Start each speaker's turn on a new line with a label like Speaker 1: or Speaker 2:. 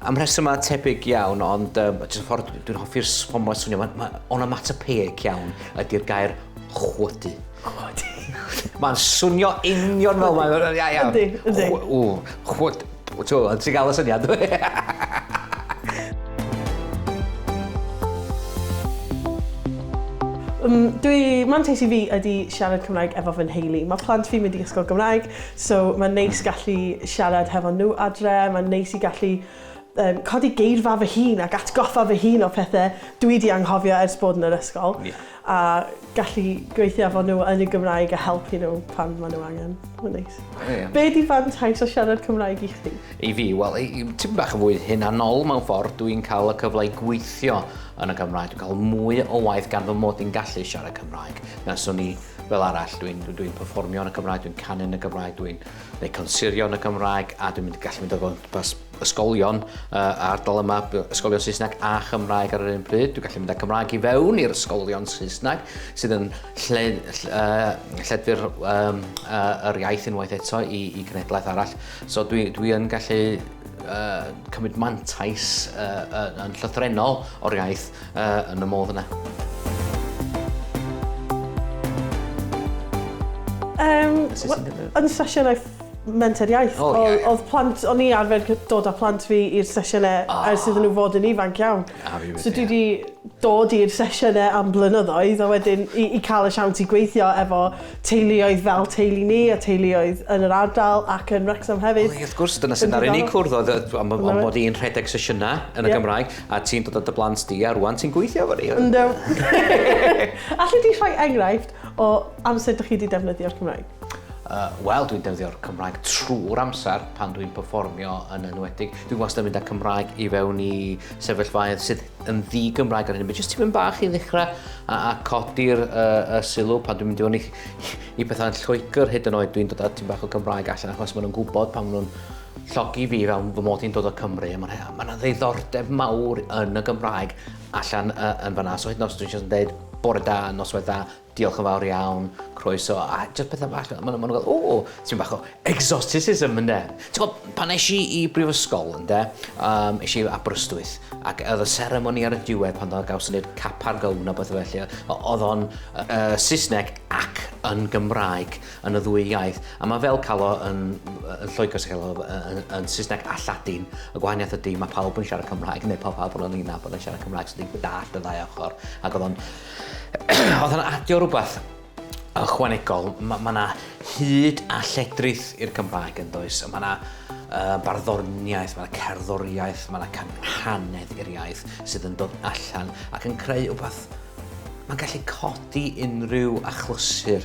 Speaker 1: Am rhesymau
Speaker 2: tebyg iawn, ond um, jyst y ffordd dwi'n hoffi'r ffordd mae'n swnio, mae, mae onomatopoeic iawn ydy'r gair chwydu. Chwydu.
Speaker 1: mae'n
Speaker 2: swnio union fel mae'n... Ia, ia. Ydy, ydy.
Speaker 1: Chw,
Speaker 2: chwyd, ti'n gael y syniad. Um,
Speaker 1: dwi, mantais i fi ydy siarad Cymraeg efo fy nheulu. Mae plant fi'n mynd i ysgol Gymraeg, So mae'n neis gallu siarad hefo nhw adre, mae'n neis i gallu um, codi geirfa fy hun ac atgoffa fy hun o pethau dwi di anghofio ers bod yn yr ysgol. Yeah. A gallu gweithio efo nhw yn y Gymraeg a helpu nhw pan maen nhw angen. Mae'n neis. Yeah. Be di fantais o siarad Cymraeg i chdi? I fi, wel,
Speaker 2: ti'n bach yn fwy hunanol mewn ffordd, dwi'n cael y cyfle i gweithio yn y Gymraeg, dwi'n cael mwy o waith gan fy mod i'n gallu siarad Cymraeg. Nes o'n i fel arall, dwi'n dwi, dwi performio yn y Gymraeg, dwi'n canu yn y Gymraeg, dwi'n gwneud consirio yn y Gymraeg, a dwi'n mynd i gallu mynd o gwmpas ysgolion uh, ardal yma, ysgolion Saesneg a Chymraeg ar yr un pryd. Dwi'n gallu mynd â Cymraeg i fewn i'r ysgolion Saesneg, sydd yn lle, lle, uh, lledfu'r um, uh, yr iaith unwaith eto i, i gnedlaeth arall. So dwi, dwi yn gallu uh, cymryd mantais uh, yn llythrenol o'r iaith Yy, yn y modd yna. Um,
Speaker 1: yn sesiynau menter iaith, oh, yeah, yeah. oedd plant, o'n i arfer dod â plant fi i'r sesiynau oh. Ah. ers iddyn nhw fod yn ifanc iawn. Ah, so dwi wedi dod i'r sesiynau am blynyddoedd a wedyn i, i cael y siawns i gweithio efo teuluoedd fel teulu ni a teuluoedd yn yr ardal ac yn Wrexham hefyd. Wel, wrth gwrs, dyna sy'n ar unig
Speaker 2: cwrdd oedd am bod i'n rhedeg sesiynau yn y Gymraeg. A ti'n dod â dy blant di, a rwan ti'n gweithio efo ni! Yndw!
Speaker 1: Alli di rhoi enghraifft o amser dych chi wedi defnyddio'r Cymraeg? Yy, wel, dwi'n
Speaker 2: defnyddio'r Cymraeg trwy'r amser pan dwi'n perfformio yn enwedig. Dwi wastad yn mynd â Cymraeg i fewn i sefyllfaoedd sydd yn ddi-Gymraeg ar hyn o bryd, jyst tipyn bach i ddechrau a, a codi'r uh, uh, sylw pan dwi'n mynd i fewn i, i bethau'n Lloegr hyd yn oed dwi'n dod â tipyn bach o Gymraeg allan achos maen nhw'n gwybod pan maen nhw'n llogi fi fel fy mod i'n dod o Cymru, a mae yna ddiddordeb mawr yn y Gymraeg allan uh, yn fanna. So hyd yn oes dwi'n just yn dweud bore da, noswaith da, diolch yn fawr iawn, croeso, a just pethau bach, maen nhw'n gael, o, ti'n bach o exoticism ynde. Ti'n gwybod, pan eis i i brifysgol ynde, um, eis i Aberystwyth, ac oedd y seremoni ar y diwedd pan oedd gawson ni'r cap ar gown a beth felly, oedd o'n uh, Saesneg ac yn Gymraeg. yn y ddwy iaith. A mae fel cael o yn, yn Lloegr sy'n cael o yn, yn Saesneg a Lladin. Y gwahaniaeth ydy, mae pawb yn siarad Cymraeg, neu pawb pawb yn yna bod yn siarad Cymraeg, so dwi'n dallt y ddau ochr. Ac oedd o'n... oedd o'n adio rhywbeth ychwanegol. Mae yna ma hyd a lledrith i'r Cymraeg yn does. Mae yna uh, barddoniaeth, mae yna cerddoriaeth, mae yna canhanedd i'r iaith sydd yn dod allan ac yn creu rhywbeth mae'n gallu codi unrhyw achlysur